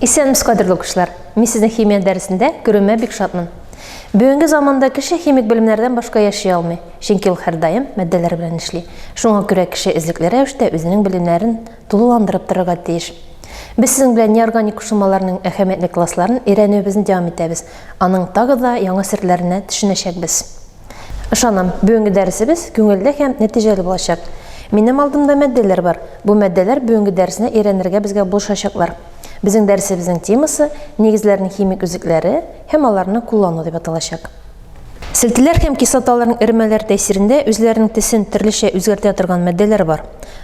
Исәнмез, кадерле укучылар! Мин сезнең химия дәресендә күрүемә бик шатмын. Бүгенге заманда кеше химик белемнәрдән башка яши алмый. Чөнки ул һәрдаим матдәләр белән эшли. Шуңа күрә кеше эзлекле рәвештә үзенең белемнәрен тулыландырып торырга тиеш. Без сезнең белән неорганик кушылмаларның әһәмиятле классларын өйрәнүебезне дәвам итәбез, аның тагы да яңа серләренә төшенәчәкбез. Ышанам, бүгенге дәресебез күңелле һәм нәтиҗәле булачак. Минем алдымда матдәләр бар. Бу матдәләр бүгенге дәресне өйрәнергә безгә булышачаклар. Безнең дәресебезнең темасы, нигезләрнең химик үзлекләре һәм аларны куллану дип аталачак. Селтеләр һәм кислоталарның эремәләр тәэсирендә үзләренең тесен төрлечә үзгәртә торган мәддәләр бар.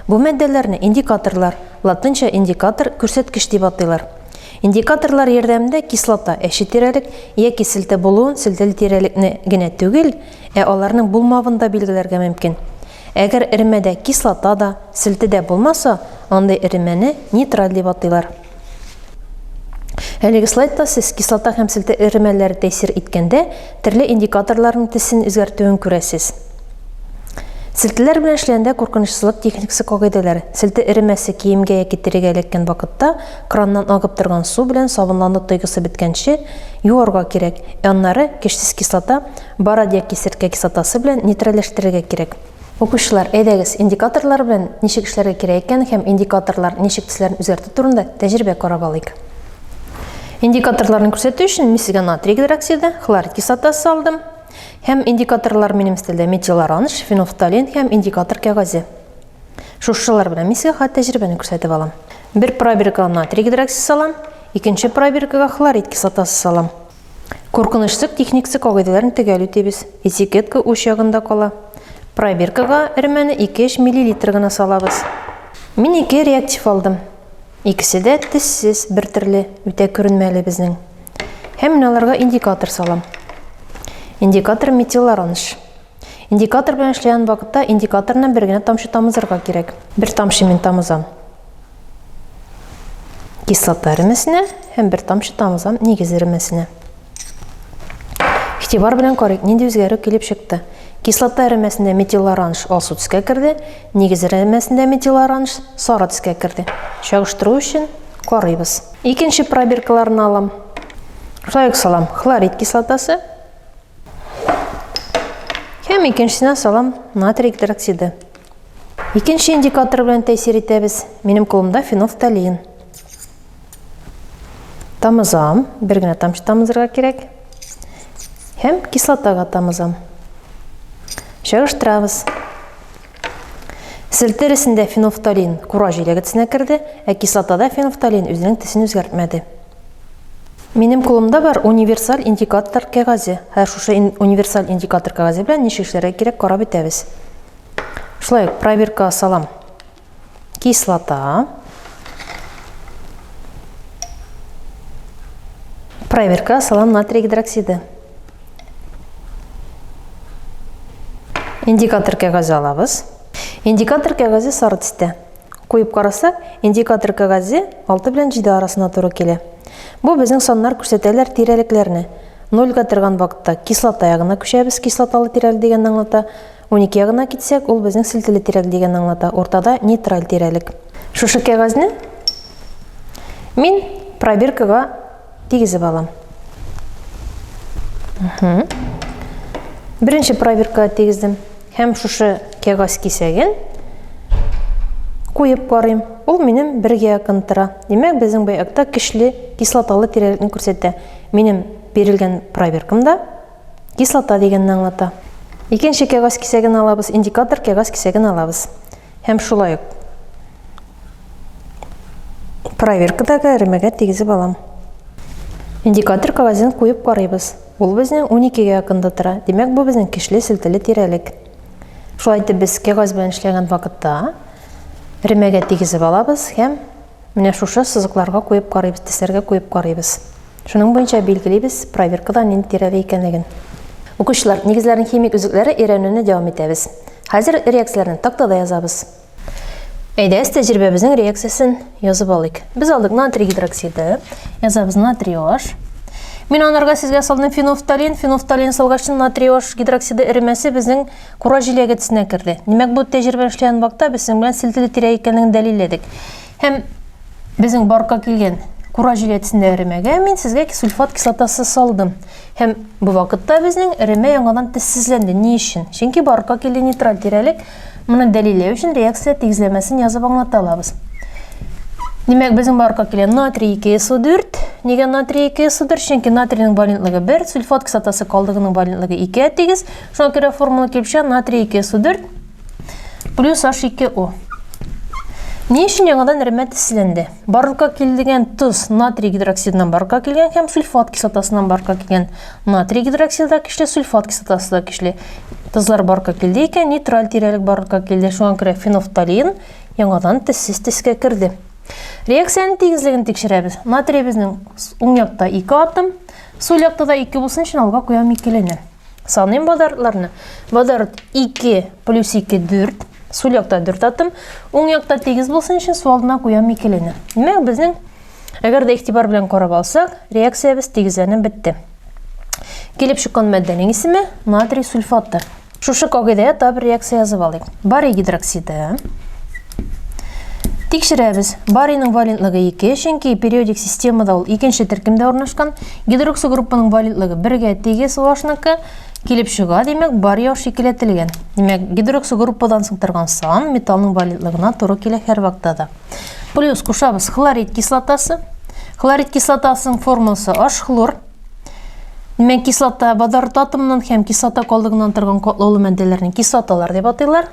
Бу мәддәләрне индикаторлар, латынча индикатор, күрсәткеч дип атыйлар. Индикаторлар ярдәмендә кислота әче тирәлек яки селтә булуын, селтәле тирәлекне генә түгел, ә аларның булмавын да билгеләргә мөмкин. Әгәр эремәдә кислота да, селтә дә булмаса, андый эремәне нейтраль дип атыйлар. Әлеге слайдта сез кислота һәм селтә эремәләре тәэсир иткәндә төрле индикаторларның тесен үзгәртүен күрәсез. Селтәләр белән эшләгәндә куркынычсызлык техникасы кагыйдәләре. Селтә эремәсе киемгә яки терегә эләккән вакытта краннан агып торган су белән сабынлану тойгысы беткәнче юарга кирәк, ә аннары кешсез кислота, бород яки серкә кислотасы белән нейтральләштерергә кирәк. Укучылар, әйдәгез, индикаторлар белән ничек эшләргә кирәк икәнен һәм индикаторлар ничек төсләрен үзгәртү турында тәҗрибә карап алыйк. Индикаторларны күрсәтү өчен мин сезгә натрий гидроксиды, хлорид кислотасы алдым. Һәм индикаторлар минем стилдә метилоранж, фенофталин һәм индикатор кәгазе. Шушылар белән мин сезгә хат тәҗрибәне күрсәтеп алам. Бер пробиркага натрий гидроксиды салам, икенче пробиркага хлорид кислотасы салам. Куркынычсыз техникасы кагыйдәләрен төгәл үтибез. Этикетка уч ягында кала. Пробиркага өрмәне 2-3 миллилитр гына салабыз. Мин ике реактив алдым. Икесе дә тессез, бер төрле, үтә күренмәле безнең. Һәм мин аларга индикатор салам. Индикатор метилароныш. Индикатор белән эшләгән вакытта индикаторны бер генә тамчы тамызырга кирәк. Бер тамчы мин тамызам кислота ремесенә һәм бер тамчы тамызам нигез ремесенә. Ихтибар белән карыйк, нинди үзгәрү килеп чыкты. Кислота ремесендә метил оранж алсу төскә керде, нигез ремесендә метил оранж сары төскә керде. Чагыштыру өчен карыйбыз. Икенче пробиркаларны алам. Шулай ук салам хлорид кислотасы Һәм икенчесенә салам натрий гидроксиды. Икенче индикатор белән тәэсир итәбез. Минем кулымда фенофталин. Тамызам, бер генә тамчы тамызырга кирәк. Һәм кислотага тамызам. Чагыштырабыз. Сел тересендә фенофталин кура җиләге тесенә керде, ә кислотада фенофталин үзенең тесен үзгәртмәде. Минем кулымда бар универсаль индикатор кәгазе. Хәзер шушы универсаль индикатор кәгазе белән ничек эшләргә кирәк карап бетәбез. Шулай ук проверка салам. Кислота. Проверка салам натрий гидроксиды. Индикатор кәгазе алабыз. Индикатор кәгазе сары төстә. Куеп карасак, индикатор кәгазе 6 белән 7 арасына туры килә. Бу безнең саннар күрсәтәләр тирәлекләрне. 0 га торган вакытта кислота ягына күчәбез, кислоталы тирәлек дигән аңлата. 12 ягына китсәк, ул безнең селтеле тирәлек дигән аңлата. Уртада нейтраль тирәлек. Шушы кәгазьне мин пробиркага Тигезеп алам. Беренче проверка тигездем. Һәм шушы кәгазь кисәген куеп карыйм. Ул минем бергә якын тора. Димәк, безнең бу акта кишле кислоталы тирәлекне күрсәтә. Минем бирелгән проверкамда кислота дигәнне аңлата. Икенче кәгазь кисәген алабыз, индикатор кәгазь кисәген алабыз. Һәм шулай ук проверкадагы эремәгә тигезеп алам. Индикатор кавазын куеп карыйбыз. Ул безнең 12 гә якында тора. Димәк, бу безнең кишле селтәле тирәлек. Шулай итеп без кәгазь белән эшләгән вакытта эремәгә тигезеп алабыз һәм Менә шушы сызыкларга куеп карыйбыз, тестләргә куеп карыйбыз. Шуның буенча билгелибез проверкада нинди тирәдә икәнлеген. Укучылар, нигезләрнең химик өзекләре өйрәнүне дәвам итәбез. Хәзер реакцияләрне тактада язабыз. Әйдәгез, тәҗрибәбезнең реакциясен язып алыйк. Без алдык натрий гидроксиды. Язабыз натрий OH. Мин анарга сезгә салдым фенофталин. Фенофталин салгачын натрий OH гидроксиды эремәсе безнең Кура җиләге төсенә керде. Димәк, бу тәҗрибә эшләгән вакытта без синең белән селтеле тирә икәнлеген дәлилләдек. Һәм безнең барка килгән кура җиләге төсендә эремәгә мин сезгә сульфат кислотасы салдым. Һәм бу вакытта безнең эремә яңадан тезсезләнде. Ни өчен? Чөнки барка килде нейтраль тирәлек. Моны дәлилләү өчен реакция тигезләмәсен язып аңлата алабыз. Димәк, безнең барка килгән натрий 2SO4. Нигә натрий 2SO4? Чөнки натрийның валентлыгы 1, сульфат кислотасы калдыгының валентлыгы 2 тигез. Шуңа күрә формула килеп чыга натрий 2 су 4 плюс H2O. Ни өчен яңадан рәмәт эсселәнде? Барлыкка килдегән тоз натрий гидроксидынан барлыкка килгән һәм сульфат кислотасыннан барлыкка килгән. Натрий гидроксиды да көчле, сульфат кислотасы да көчле. Тозлар барлыкка килде икән, нейтраль тирәлек барлыкка килде. Шуңа күрә фенофталин яңадан тезсез тезкә керде. Реакциянең тигезлеген тикшерәбез. Натрий безнең уң якта 2 атом, сул якта да 2 булсын өчен алга куям икелене. Саныйм бадартларны. Бадарт 2 плюс 2 4. Сул якта 4 аттым. Уң якта тигез булсын өчен су алдына куям икелене. Димәк, безнең әгәр дә игътибар белән карап алсак, реакциябез тигезләнеп бетте. Килеп чыккан матдәнең исеме натрий сульфаты. Шушы кагыйдәгә таб реакция язып алыйк. Барий гидроксиды. Тикшерәбез. Барийның валентлыгы 2, чөнки периодик системада ул икенче төркемдә урнашкан. Гидроксы группаның валентлыгы бергә тигез OH-ныкы килеп чыга, димәк, бар яу шикеләтелгән. Димәк, гидроксы группадан сыктырган сан металлның валентлыгына туры килә һәр вактада. Плюс кушабыз хлорид кислотасы. Хлорид кислотасының формуласы H хлор. Димәк, кислота водород атомыннан һәм кислота калдыгыннан торган катлаулы матдәләрне кислоталар дип атыйлар.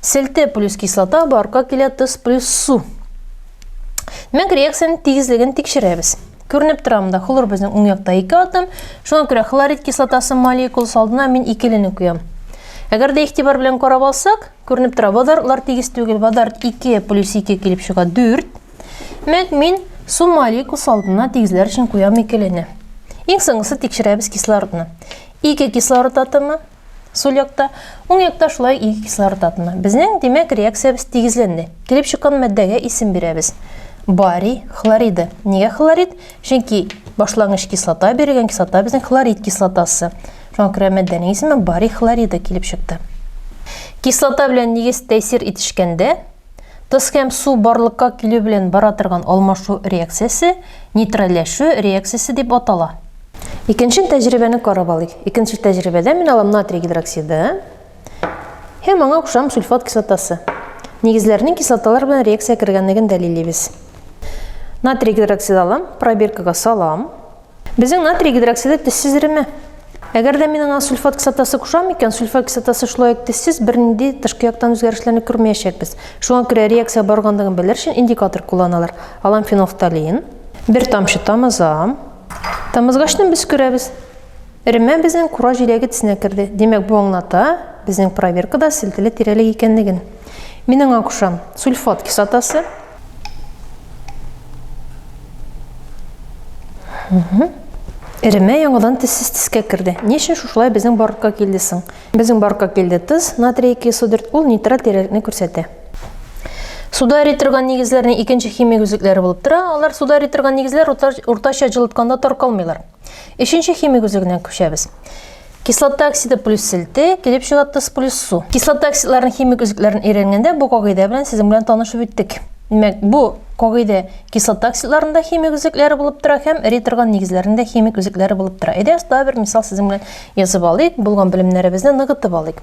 Селте плюс кислота, барка килә тоз плюс су. Димәк, реакциянең тигезлеген тикшерәбез. Күренеп тора монда хлор безнең уң якта 2 атом. Шуңа күрә хлорид кислотасы молекуласы алдына мин икелене куям. Әгәр дә игътибар белән карап алсак, күренеп тора, водородлар тигез түгел. Водород 2 плюс 2 килеп чыга 4. Мәк мин су молекуласы алдына тигезләр өчен куям икелене. Иң соңгысы тикшерәбез кислородны. 2 кислород атомы, Сул якта, уң якта шулай ике кислород атомы. Безнең, димәк, реакциябез тигезләнде. Килеп чыккан матдәгә исем бирәбез. Барий хлориды. Нигә хлорид? Чөнки башлангыч кислота бирелгән кислота безнең хлорид кислотасы. Шуңа күрә матдәнең исеме барий хлориды килеп чыкты. Кислота белән нигез тәэсир итешкәндә, Тоз һәм су барлыкка килү белән бара торган алмашу реакциясе нейтральләшү реакциясе дип атала. Икенче тәҗрибәне карап алыйк. Икенче тәҗрибәдә мин алам натрий гидроксиды һәм аңа кушам сульфат кислотасы. Нигезләрнең кислоталар белән реакция кергәнлеген дәлиллибез. Натрий гидроксиды алам, пробиркага салам. Безнең натрий гидроксиды тезсез эреме? Әгәр дә мин аңа сульфат кислотасы кушам икән, сульфат кислотасы шулай ук тезсез бернинди тышкы яктан үзгәрешләрне күрмәячәкбез. Шуңа күрә реакция баргандыгын белер өчен индикатор кулланалар. Алам фенолфталин. Бер тамчы тамызам. Тамызгачны без күрәбез. Эремә безнең кура җиләге тезенә керде. Димәк, бу аңлата безнең проверкада селтеле тирәлек икәнлеген. Мин аңа кушам сульфат кислотасы, Эремә яңадан тезсез тискә керде. Ни өчен шушылай безнең баркка килде соң? Безнең баркка килде тыз, натрий 204, ул нитрат тирәлекне күрсәтә. Суда эри торган нигезләрнең икенче химик үзлекләре булып тора. Алар суда эри торган нигезләр уртача җылытканда таркалмыйлар. Өченче химик үзлегенә күчәбез. Кислота оксиды плюс селте, килеп чыга тоз плюс су. Кислота оксидларын химик үзлекләрен өйрәнгәндә бу кагыйдә белән сезнең белән танышып үттек. Димәк, бу кагыйдә кислота оксидларында химик үзлекләре булып тора һәм эри торган нигезләрендә химик үзлекләре булып тора. Әйдә, оста бер мисал сезнең белән язып алыйк, булган белемнәребезне ныгытып алыйк.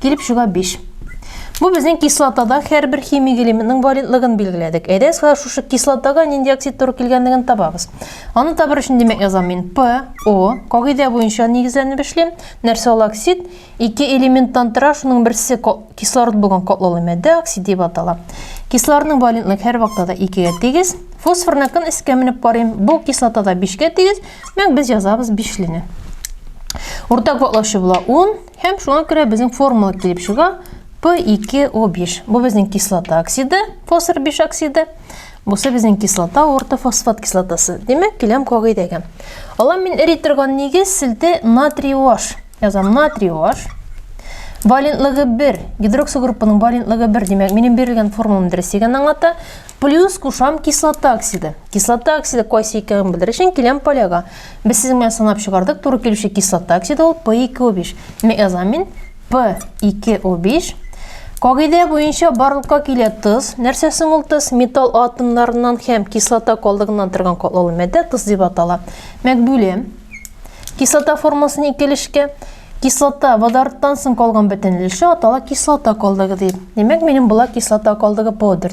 Килеп чыга 5. Бу безнең кислотада һәрбер химик элементның валентлыгын билгеләдек. Әйдә сызга шушы кислотага нинди оксид туры килгәнлеген табабыз. Аны табыр өчен димәк язам мин P, O. Кагыйдә буенча нигезләнеп эшлим. Нәрсә ул оксид? Ике элементтан тора, шуның берсе кислород булган катлаулы матдә оксид дип атала. Кислородның валентлык һәр вакытта да 2 гә тигез. Фосфорны кын искә менеп карыйм. Бу кислотада 5 гә тигез. Мәк без язабыз 5 лене. Уртак ваклаучы була 10. Һәм шуңа күрә безнең формула килеп чыга P2O5. Бу безнең кислота оксиды, фосфор 5 оксиды. Бусы безнең кислота, ортофосфат кислотасы. Димәк, киләм кагыйдәгә. Алам мин эри торган нигез селте натрий OH. Язам натрий OH. Валентлыгы 1, гидроксил группаның валентлыгы 1, димәк, минем бирелгән формулам дөрес икән аңлата. Плюс кушам кислота оксиды. Кислота оксиды кайсы икәнен белер өчен киләм поляга. Без сезнең белән санап чыгардык, туры килүче кислота оксиды ул P2O5. Меазамин P2O5. Кагыйдә буенча барлыкка килә тоз. Нәрсә соң ул тоз? Металл атомнарыннан һәм кислота калдыгыннан торган катлаулы матдә тоз дип атала. Мәкбүле кислота формасын икелешкә кислота водородтан соң калган бөтен өлеше атала кислота калдыгы дип. Димәк, минем була кислота калдыгы P4.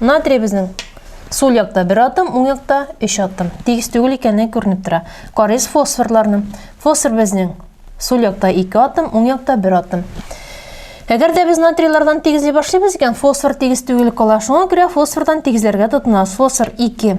Натрий безнең сул якта бер атом, уң якта өч атом. Тигез түгел икәне күренеп тора. Карыйс фосфорларны. Фосфор безнең сул якта ике атом, уң якта бер атом. Әгәр дә без натрийлардан тигезли башлыйбыз икән, фосфор тигез түгел кала. Шуңа күрә фосфордан тигезләргә тотынабыз. Фосфор 2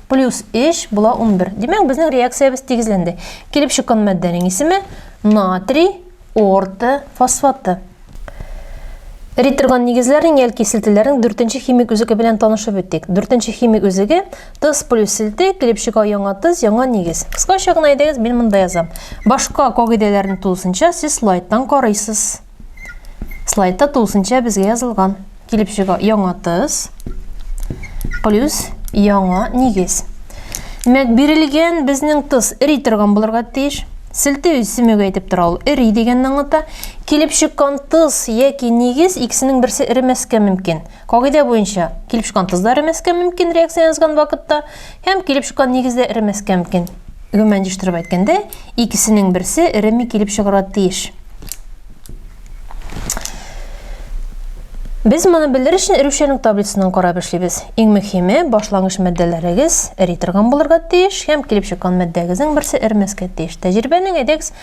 Плюс 3 була 11. Димәк, безнең реакциябез тигезләнде. Килеп чыккан матдәнең исеме натрий орты фосфаты. Риторган нигезләрнең ял киселтеләрнең дүртенче химик үзеге белән танышып үттек. Дүртенче химик үзеге тыз плюс селте, килеп чыга яңа тыз, яңа нигез. Кыскача гына әйдәгез, мин монда язам. Башка кагыйдәләрне тулысынча сез слайдтан карыйсыз. Слайдта тулысынча безгә язылган. Килеп чыга яңа тыз плюс яңа нигез. Димәк, бирелгән безнең тыз эри торган булырга тиеш. Селтеү исемеге әйтеп тора ул эри дигәнне аңлата. Килеп чыккан тыз яки нигез икесенең берсе эремәскә мөмкин. Кагыйдә буенча килеп чыккан тыз да эремәскә мөмкин реакция язган вакытта һәм килеп чыккан нигез дә эремәскә мөмкин. гомумән җыштырып әйткәндә, икесенең берсе эреми килеп чыгарга тиеш. Без моны белер өчен эрүчәнлек таблицасын карап эшлибез. Иң мөһиме, башлангыч матдәләрегез эри торган булырга тиеш һәм килеп чыккан матдәгезнең берсе эрмәскә тиеш. Тәҗрибәнең әйдәгез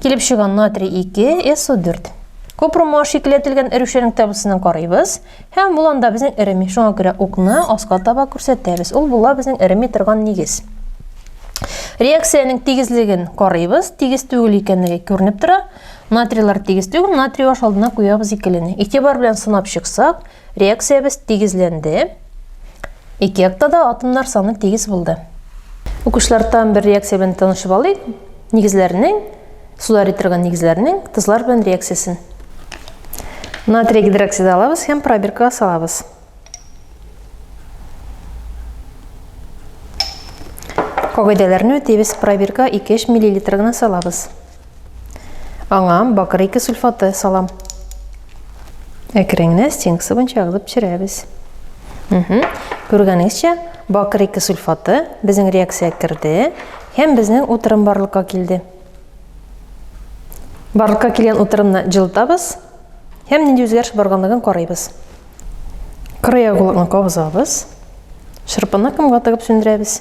Килеп чыган натрий 2, СО4. Купрумга шикелләтелгән эрешәнең табысының карыйбыз. Һәм бул анда безнең эреми. Шуңа күрә укны аска таба күрсәтәбез. Ул була безнең эреми торган нигез. Реакциянең тигезлеген карыйбыз. Тигез түгел икәнлеге күренеп тора. Натрийлар тигез түгел. Натрий баш алдына куябыз икелене. Игътибар белән сынап чыксак, Реакциябез тигезләнде. Ике якта да атомнар саны тигез булды. Укучылар тагын бер реакция белән танышып алыйк. Нигезләрнең, суда эритерген нигезләрнең тозлар белән реакциясен. Натрий гидроксиды алабыз һәм пробиркага салабыз. Кагыйдәләрне үтибез. Пробирка 2-3 мл гына салабыз. Аңа бакыр ике сульфаты салам. Әкренне стенкасы буенча агызып пешерәбез. Күргәнегезчә, бакыр ике сульфаты безнең реакция керде һәм безнең утырым барлыкка килде. Барлыкка килгән утырымны җылытабыз һәм нинди үзгәреш барганлыгын карыйбыз. Кырый агулыкны кабызабыз. Шырпыны кымга тыгып сүндерәбез.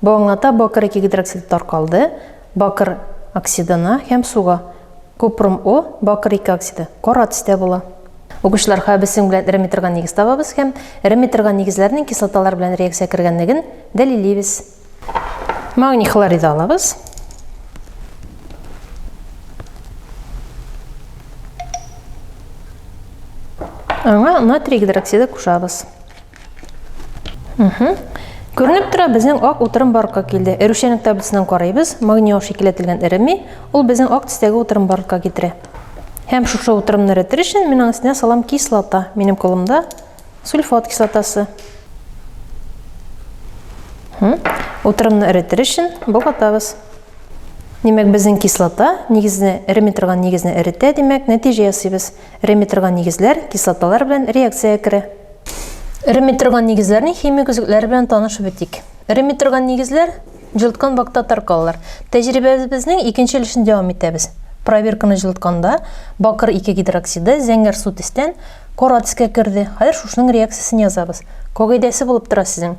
Бу аңлата бакыр ике гидроксиды таркалды, бакыр оксидына һәм суга. Купрум О, бакыр ике оксиды, кара төстә була. Укучылар, хәбесең белән эремий торган нигез табабыз һәм эремий торган нигезләрнең кислоталар белән реакция кергәнлеген дәлиллибез. Магний хлориды алабыз. Аңа натрий гидроксиды кушабыз. Күренеп тора, безнең ак утырым барлыкка килде. Эрүшәнек таблицасыннан карыйбыз, магний аш икеләтелгән эреми, ул безнең ак тистәге утырым барлыкка китерә. Һәм шушы утырымны эретер өчен мин аның өстенә салам кислота. Минем кулымда сульфат кислотасы. Утырымны эретер өчен богатабыз. Димәк, безнең кислота нигезне эреми торган нигезне эретә, димәк, нәтиҗә ясыйбыз. Эреми торган нигезләр кислоталар белән реакциягә керә. Эремей торган нигезләрнең химик өзекләре белән танышып үтик. Эремей торган нигезләр җылыткан вакытта таркалалар. Тәҗрибәбезнең икенче өлешен дәвам итәбез. Проверканы җылытканда бакыр 2 гидроксиды зәңгәр су төстән кара төскә керде. Хәзер шушының реакциясен язабыз. Когәйдәсе булып тора сезнең.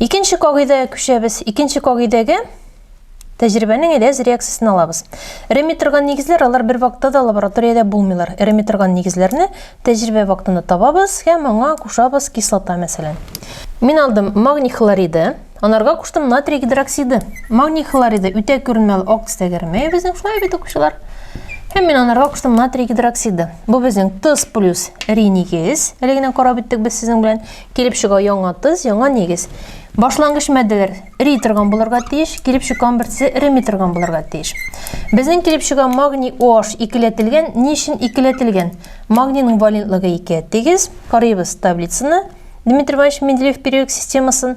Икенче кагыйдәгә күчәбез. Икенче кагыйдәгә тәҗрибәнең эләз реакциясен алабыз. Эремми торган нигезләр алар бер вакытта да лабораториядә булмыйлар. Эремми торган нигезләрне тәҗрибә вакытында табабыз һәм аңа кушабыз кислота мәсәлән. Мин алдым магний хлориды, анарга куштым натрий гидроксиды. Магний хлориды үтә күренмәле ак төстә кермәй безнең шулай бит укучылар. Һәм мин анарга куштым натрий гидроксиды. Бу безнең тыз плюс ри нигез. Әле генә карап үттек без сезнең белән. Килеп чыга яңа тыз, яңа нигез. Башлангыч матдәләр эри торган булырга тиеш, килеп чыккан берсе эреми торган булырга тиеш. Безнең килеп чыга магний OH икеләтелгән. Ни өчен икеләтелгән? Магнийның валентлыгы 2 тигез. Карыйбыз таблицаны. Дмитрий Иванович Менделеев периодик системасын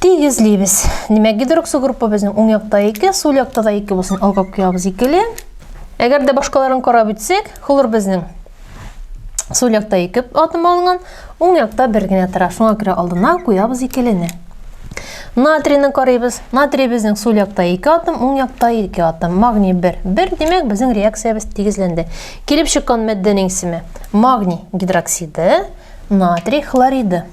Тигезлибез. Димәк, гидроксо группа безнең уң якта 2, сул якта да 2 булсын. Алга куябыз 2-ле. Әгәр дә башкаларын карап үтсәк, хлор безнең сул якта 2 атом алынган, уң якта бер генә тора. Шуңа күрә алдына куябыз 2-лене. Натрийны карыйбыз. Натрий безнең сул якта 2 атом, уң якта 2 атом. Магний 1. 1, димәк, безнең реакциябез тигезләнде. Килеп чыккан матдәнең исеме: магний гидроксиды, натрий хлориды.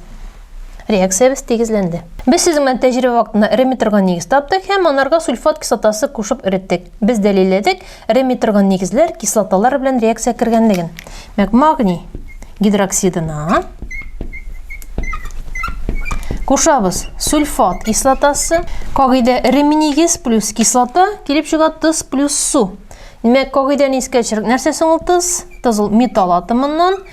Реакциябез тигезләнде. Без сезнең белән тәҗрибә вакытында эремми торган нигез таптык һәм анарга сульфат кислотасы кушып эреттек. Без дәлилләдек эремми торган нигезләр кислоталар белән реакциягә кергәнлеген. Мәк магний гидроксидына кушабыз сульфат кислотасы. Кагыйдә эремми нигез плюс кислота килеп чыга тыз плюс су. Димәк, кагыйдәне искә төшерик. Нәрсә соң ул тыз? Тыз ул металл атомыннан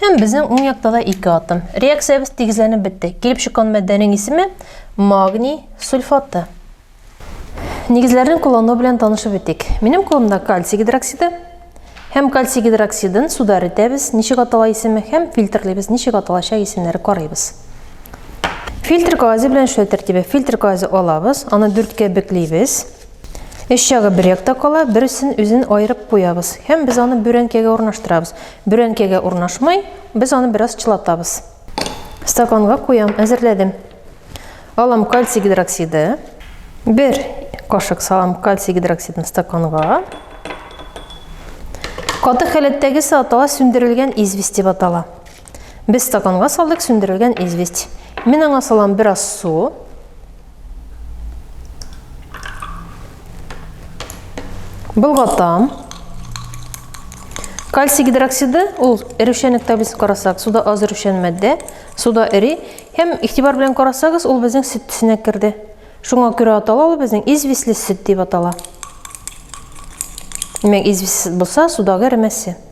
Һәм безнең уң якта да ике атом. Реакциябез тигезләнеп бетте. Килеп чыккан матдәнең исеме магний сульфаты. Нигезләрен куллану белән танышып үтик. Минем кулымда кальций гидроксиды һәм кальций гидроксидын суда эретәбез, ничек атала исеме һәм фильтрлыйбыз, ничек аталачак исемнәре карыйбыз. Фильтр кагазе белән эшләү тәртибе. Фильтр кагазе алабыз, аны дүрткә беклибез. Өч ягы бер якта кала, берсен үзен аерып куябыз һәм без аны бүрәнкәгә урнаштырабыз. Бүрәнкәгә урнашмый, без аны бераз чылатабыз. Стаканга куям, әзерләдем. Алам кальций гидроксиды. Бер кашык салам кальций гидроксидын стаканга. Каты халәттәге сатала сүндерелгән известь дип атала. Без стаканга салдык сүндерелгән известь. Мин аңа салам бераз су. Былгатам. Кальций гидроксиды ул эрүшәнлек таблицасын карасак, суда аз эрүшән матдә, суда эри һәм игътибар белән карасагыз, ул безнең сөт төсенә керде. Шуңа күрә атала ул безнең известьле сөт дип атала. Димәк, известьсез булса, судагы эремәсе.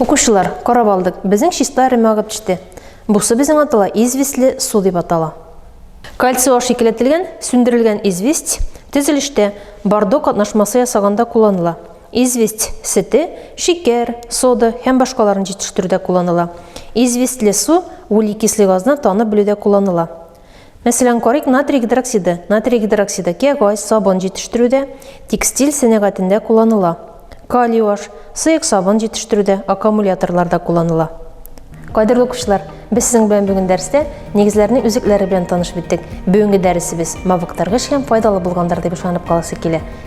Укучылар, карап алдык, безнең чиста рема агып төште. Бусы безнең атала известле су дип атала. Кальций аш икеләтелгән, сүндерелгән известь төзелештә бордо катнашмасы ясаганда кулланыла. Известь сете, шикәр, сода һәм башкаларын җитештерүдә кулланыла. Известле су углекислый газны танып белүдә кулланыла. Мәсәлән, карыйк натрий гидроксиды, натрий гидроксиды кәгазь, сабын җитештерүдә, текстиль сәнәгатендә кулланыла. Калий аш, сыек сабын җитештерүдә, аккумуляторларда кулланыла. Кадерле укучылар, без сезнең белән бүген дәрестә нигезләрнең үзекләре белән таныш биттек. Бүгенге дәресебез мавыктыргыч һәм файдалы булгандыр дип ышанып каласы килә.